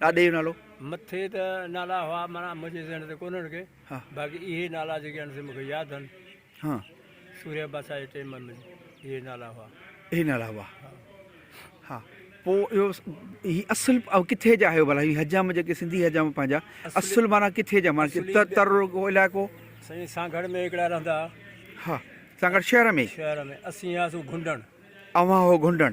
ڏاڏي جو نالو؟ مٿي ته نالا هئا معنيٰ منهنجي ذهن تي ڪونهن ڪي باقي اهي نالا جيڪي آهن سي مون کي ياد آهن سوريا بادشاهه جي ٽيم ۾ اهي نالا هئا اهي نالا هئا ها پوء اهو هي اصل ڪٿي جا آهيو ڀلا هي حجام جيڪي سنڌي حجام پنهنجا اصل معنيٰ ڪٿي جا معنيٰ تر رڳو علائقو سائين سانگهڙ ۾ هڪڙا رهندا ها سانگهڙ شهر ۾ شهر ۾ اسين هياسون گهنڊڻ اوهان هو گهنڊڻ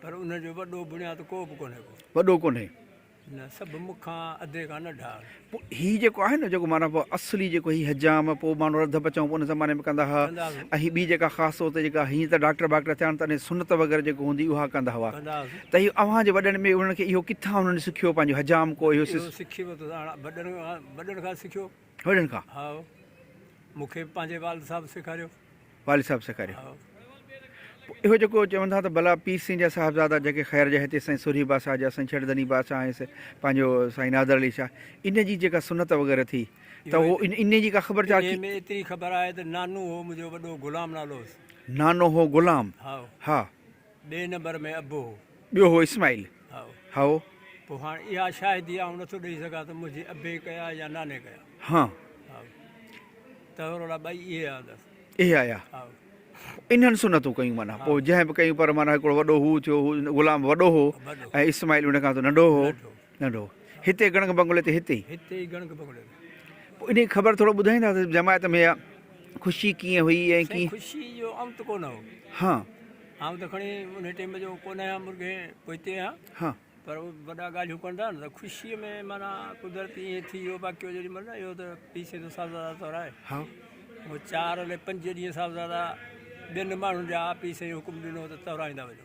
پر ان جو وڏو بڻياد ڪو به ڪونهي ڪو. وڏو ڪونهي. نه سڀ مون کان اڌي کان نه ڍار. پوء هي جيڪو آهي نه جيڪو معنيٰ پوء اصلي جيڪو هي حجام پوء ماڻهو رڌ پچائون پوء ان زماني ۾ ڪندا هئا ۽ ٻي جيڪا خاص طور تي جيڪا هينئر ته ڊاڪٽر باڪٽر ٿيا آهن ته انهي سنت وغيره جيڪو هوندي اها ڪندا هئا ته اهي اوهان جي وڏن ۾ انهن کي اهو ڪٿان انهن سکيو پنهنجو حجام ڪو اهو سکي ورتو ساڻ وڏن کان سکيو. وڏن کان. ها مون کي به پنهنجي والد صاحب سيکاريو. والد صاحب سيکاريو. ها. پوء اهو جيڪو چون ٿا ته ڀلا پير سين جا صاحبزادا جيڪي خير جا هتي سائين سورهيه بادشاهه جا سائين ڇڙڌني بادشاهه ۽ پنهنجو سائين نادر علي شاهه ان جي جيڪا سنت وغيره ٿي ته اهو اهو ايت- ان جي ڪا خبر چار انهيء ۾ ايتري خبر آهي ته نانو هو منهنجو وڏو غلام نالو هوس. نانو هو غلام. ها. ها. ٻئي نمبر ۾ ابو هو. ٻيو هو اسماعيل. هائو. پوء هاڻ اها شاهدي آئون نٿو ڏئي سگهان ته منهنجي ابي ڪيا يا ناني ڪيا. هان. هائو. تهرولا ٻئي اهي آيا هنڌس. اهي آيا. هائو. انهن سنتون ڪيون معنيٰ پوء جنهن به ڪيون پر معنيٰ هڪڙو وڏو هو ٿيو هو غلام وڏو هو ۽ اسماعيل ان کان ته ننڍو هو. ننڍو. ننڍو هتي گڻڪ بنگلي تي هتي ئي. هتي ئي گڻڪ بنگلي تي. پوء انهي جي خبر ٿورو ٻڌائيندا ته جماعت ۾ اها خوشي ڪيئن هئي ۽ سائين ڪيئن. خوشي جو آئون ته ڪونه هوم. ها. آئون ته کڻي انهي ٽيم جو ڪونه آهيان مرگهي پوئتي آهيان. ها. پر اهي وڏا ڳالهيون ڪن ٿا نه ته خوشي ۾ معنيٰ قدرت ائين ٿي ويو باقي هو جيڏي مهل نه اهو ته پيء سين ته صاحبزادا طور آهي. ها. هو چار الي پنج ڏينهن صاحبزادا ٻين ماڻهن جا پيء سائين حڪم ڏنو ته تورائيندا وڃو.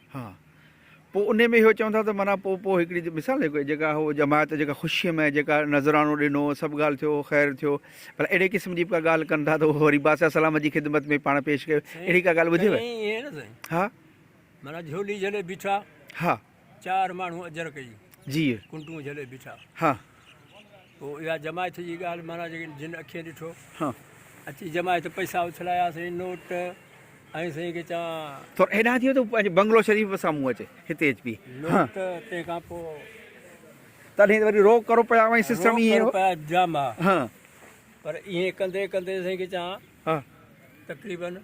ها پوء انهي ۾ اهو چون ٿا ته معنيٰ پوء پوء هڪڙي مثال هڪ جيڪا هو جماعت جيڪا خوشيء ۾ جيڪا نذرانو ڏنو سڀ ڳالهه ٿيو خير ٿيو پر اهڙي قسم جي به ڪا ڳالهه ڪن ٿا ته اهو وري بادشاهه سلامت جي خدمت ۾ پاڻ پيش ڪيو اهڙي ڪا ڳالهه ٻڌيو ها معنيٰ جهولي جهلي بيٺا ها چار ماڻهو اجر ڪئي جي ڪنٽون جهلي بيٺا ها پوء اها جماعت جي ڳالهه معنيٰ جيڪڏهن جن اکين ڏٺو اچي جماعت پئسا اڇلايا سائين نوٽ ۽ سائين کي چوان ٿور هيڏانهن ٿيو ته پنهنجي بنگلو شريف به سامهون اچي هتي اچ بي نوٽ تنهن کان پوء تڏهن وري روڪ ڪرو پيا وائي سسٽم ائين هو پيا جام ها پر ائين ڪندي ڪندي سائين کي چوان تقريبن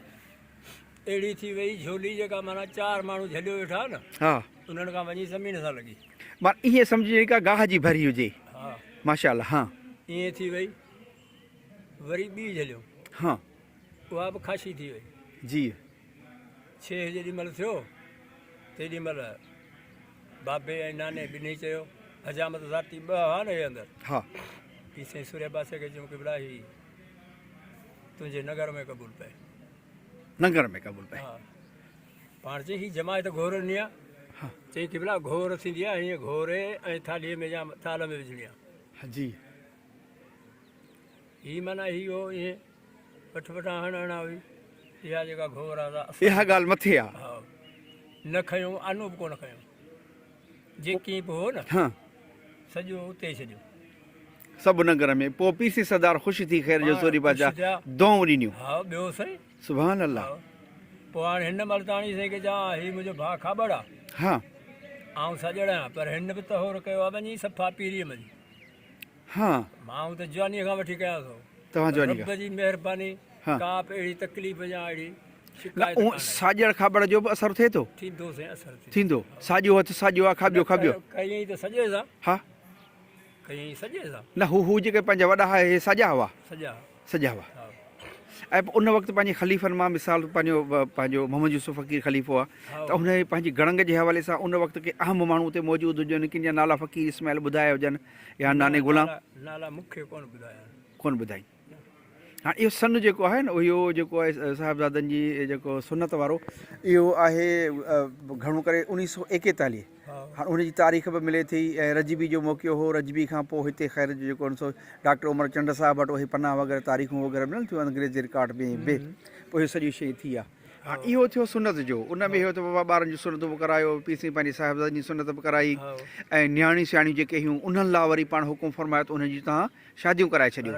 اهڙي ٿي وئي جهولي جيڪا معنيٰ چار ماڻهو جهليو ويٺا آهن ها انهن کان وڃي سمي نٿا لڳي. مان ائين سمجهي جيڪا گاهه جي ڀري هجي ها ماشاء الله ها. ائين ٿي وئي وري ٻي جهليون ها اها به خاشي ٿي وئي جي. ڇيهه جيڏي مهل ٿيو تيڏي مهل بابي ۽ ناني ٻنهي چيو حجامت ذاتي ٻه هئا نه هي اندر ها پي سائين سوريا باسي کي چيون قبلا هي تنهنجي نگر ۾ قبول پئي. لنگر ۾ قبول پئي. ها پاڻ چي هي جماعت گهور نيا چي قبلا گهور ٿيندي آهي ائين گهوري ۽ ٿالهي ۾ يا ٿالهه ۾ وجهڻي آهي. ها جي. هي معنيٰ هي هو ائين پٺ پٺان هڻ هڻا هئي اها جيڪا گهور آهي سا اها ڳالهه مٿي آهي. ها نه کنيو آنو به ڪونه کنيو. جيڪي به هو نه، ها. سڄو اتي ڇڏيو. سڀ ننگر ۾، پوء پيسي سردار خوش ٿي خير جو سوري پاچا دعائون ڏنيون. ها ٻيو سائين. سبحان الله. پوء هاڻي هن ملتاڻي سائين کي چئان ها هي منهنجو ڀاء کاٻڙ آ. ها. آئون سڄڙ آهيان پر هن به تهور ڪيو آ وڃي صفا پيريء ملي. ها. ڀانء ته جوانيء کان وٺي ڪيا سو. توهان جوانيء کان. رب جي مهرباني ڪا به اهڙي تڪليف يا اهڙي شڪايت ڪانه آهي. ساڄڙ کاٻڙ جو به اثر ٿئي ٿو؟ ٿيندو سائين اثر ٿيندو. ٿيندو. ساڄو هٿ ساڄو آ کاٻيو کاٻيو. نه ڪيئين ته سڄي سان. ها. ڪيئين سڄي سان. نه هو هو جيڪي پنهنجا وڏا هئا هي ساڄا هئا. سڄا. سجا هئا ۽ پوء ان وقت پنهنجي خليفن مان مثال پنهنجو پنهنجو محمد يوسف فقير خليفو آ ته ان جي پنهنجي گڙنگ جي حوالي سان ان وقت ڪي اهم ماڻهو اتي موجود هجن ڪن جا نالا فقير اسماعيل ٻڌايا هجن يا ناني غلام نالا مون کي ڪونه ٻڌايا آهن ڪونه ٻڌائين ها اهو سن جيڪو آهي نه اهو جيڪو آهي صاحبزادن جي جيڪو سنت وارو اهو آهي گهڻو ڪري انيس سو ايڪيتاليهه هاڻ ان جي تاريخ به ملي ٿي ۽ رجبي جو موقعو هو، رجبي کان پوء هتي خير جو جيڪو سو ڊاڪٽر عمر چنڊ صاحب وٽ اهي پنا وغيره تاريخون وغيره ملن ٿيون انگريزي رڪارڊ ۾ به پوء اهو سڄي شيء ٿي آ. هاڻ اهو ٿيو سنت جو ان ۾ اهو ته بابا ٻارن جون سنتون به ڪرايو، پير سائين پنهنجي صاحبزادن جي سنت به ڪرائي ۽ نياڻيون سياڻيون جيڪي هيون انهن لا وري پاڻ حڪم فرمايو ته انهن جون توهان شاديون ڪرائي ڇڏيو.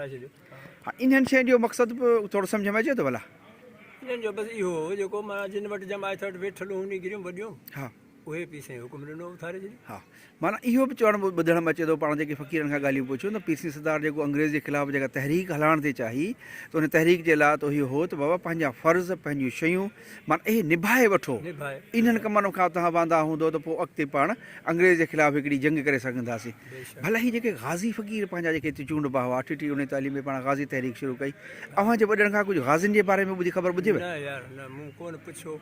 هاڻ انهن شين جو مقصد به ٿورو سمجهه ۾ اچي ٿو ڀلا؟ انهن جو بس اهو هو جيڪو معنيٰ جن وٽ جماعت وٽ ويٺل هون نگريون وڏيون اهي پي سائين حڪم ڏنو اٿاري ڇڏي. ها معنيٰ اهو به چوڻ ٻڌڻ ۾ اچي ٿو پاڻ جيڪي فقيرن کان ڳالهيون پڇيون ته پير سين سردار جيڪو انگريز جي خلاف جيڪا تحريڪ هلائڻ ٿي چاهي ته ان تحريڪ جي لا ته اهو هو ته بابا پنهنجا فرض پنهنجون شيون معنيٰ اهي نڀائي وٺو انهن ڪمن کان توهان واندا هوندو ته پوء اڳتي پاڻ انگريز جي خلاف هڪڙي جنگ ڪري سگهنداسين ڀلا هي جيڪي غازي فقير پنهنجا جيڪي هتي چونڊبا هئا اٺ ٽي اڻيتاليهه ۾ پاڻ غازي تحريڪ شروع ڪئي اوهان جي وڏڙن کان ڪجهه غازين جي باري ۾ ٻڌي خبر ٻڌيو نه يار نه مون ڪونه پڇيو.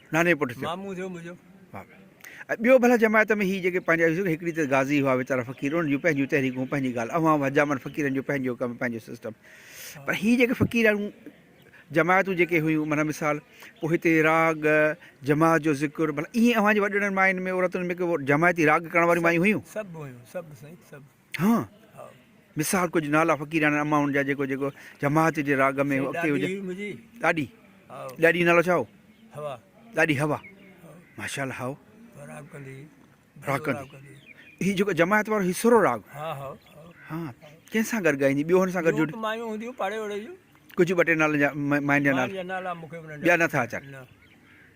نانھي پٽ ٿيو. مامو ٿيو منھنجو. واھ واھ ۽ ٻيو ڀلا جماعت ۾ ھي جيڪي پنھنجا ھيو ھڪڙي ته غازي ھئا ويچارا فقير انھن جون پنھنجون تحريڪون پنھنجي ڳالھ اوھان ھئا حجامن فقيرن جو پنھنجو ڪم پنھنجو سسٽم پر ھي جيڪي فقيراڻو جماعتون جيڪي ھيون معنيٰ مثال پوء ھتي راڳ جماعت جو ذڪر ڀلا ائين اوھان جي وڏڙن ماين ۾ عورتن ۾ ڪو جماعتي راڳ ڪرڻ واريون مايون ھيون. سڀ ھيون سڀ سائين سڀ. ها مثال ڪجهه نالا فقيراڻن امائن جا جيڪو جيڪو جماعت جي راڳ ۾ اڳتي هجي ڏاڏي ڏاڏي نالو ڇا هو هوا ڏاڏي هوا ماشاءالله هاو راڳ ڪندي راڳ ڪندي هي جيڪو جماعت وارو هي سرو راڳ ها ها ها ڪنهن سان گڏ ڳائيندي ٻيو هن سان گڏ جوڙي مايون هونديون پاڙي وڙي جون ڪجهه ٻه ٽي نالن جا ماين جا نالا ماين جا نالا مونکي ٻيا نٿا اچن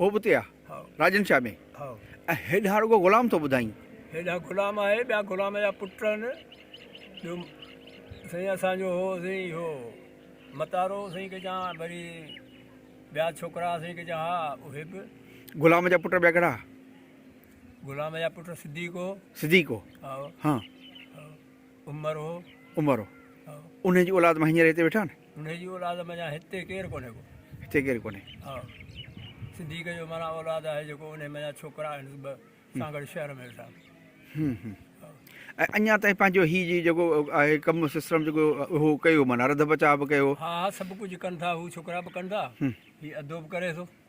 هو به تيا راڄن شاهه ۾. ۽ هيڏانهن رڳو غلام ٿو ٻڌائين. هيڏانهن غلام آهي، ٻيا غلام جا پٽ آهن، ٻيو سائين اسان جو هو سائين اهو متارو سائين ڪجا وري ٻيا ڇوڪرا سائين ڪجا ها اهي به. غلام جا پٽ ٻيا ڪهڙا ها؟ غلام جا پٽ صديق هو. صديق هو. هائو. هان. عمر هو. عمر هو. هائو. انهن جي اولاد مان هينئر هتي ويٺا آهن. انهي جي اولاد منجهان هتي ڪير ڪونهي ڪو. هتي ڪير ڪونهي. ها. صديق جو معنيٰ اولاد آهي جيڪو انهي منجهان ڇوڪرا آهن ٻه سان گڏ شهر ۾ ويٺا. هم هم. ۽ اڃان تائين پنهنجو هي جي جيڪو آهي ڪم سسرم جيڪو اهو ڪيو معنيٰ رڌ بچاء به ڪيو. ها ها سڀ ڪجهه ڪن ٿا هو ڇوڪرا به ڪن ٿا هي اڌو به ڪري ٿو.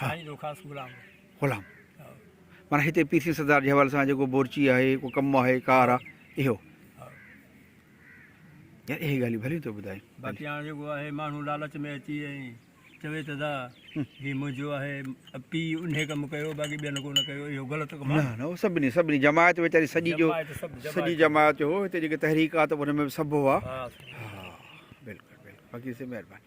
سائين روخاص غلام غلام مانا هتي پير سين سردار جي حوالي سان جيڪو بورچي آهي ڪو ڪم آهي ڪار آهي اهو يار اهي ڳالهيون ڀليون ٿو ٻڌائي باقي هاڻ جيڪو آهي ماڻهو لالچ ۾ اچي ۽ چوي ته دا هي منهنجو آهي پي ان ڪم ڪيو باقي ٻين ڪو نه ڪيو اهو غلط ڪم نه نه سڀني سڀني جماعت ويچاري سڄي جو سڄي جماعت جو هو هتي جيڪي تحريڪات هن ۾ سڀ هو ها بلڪل بلڪل باقي سي مهرباني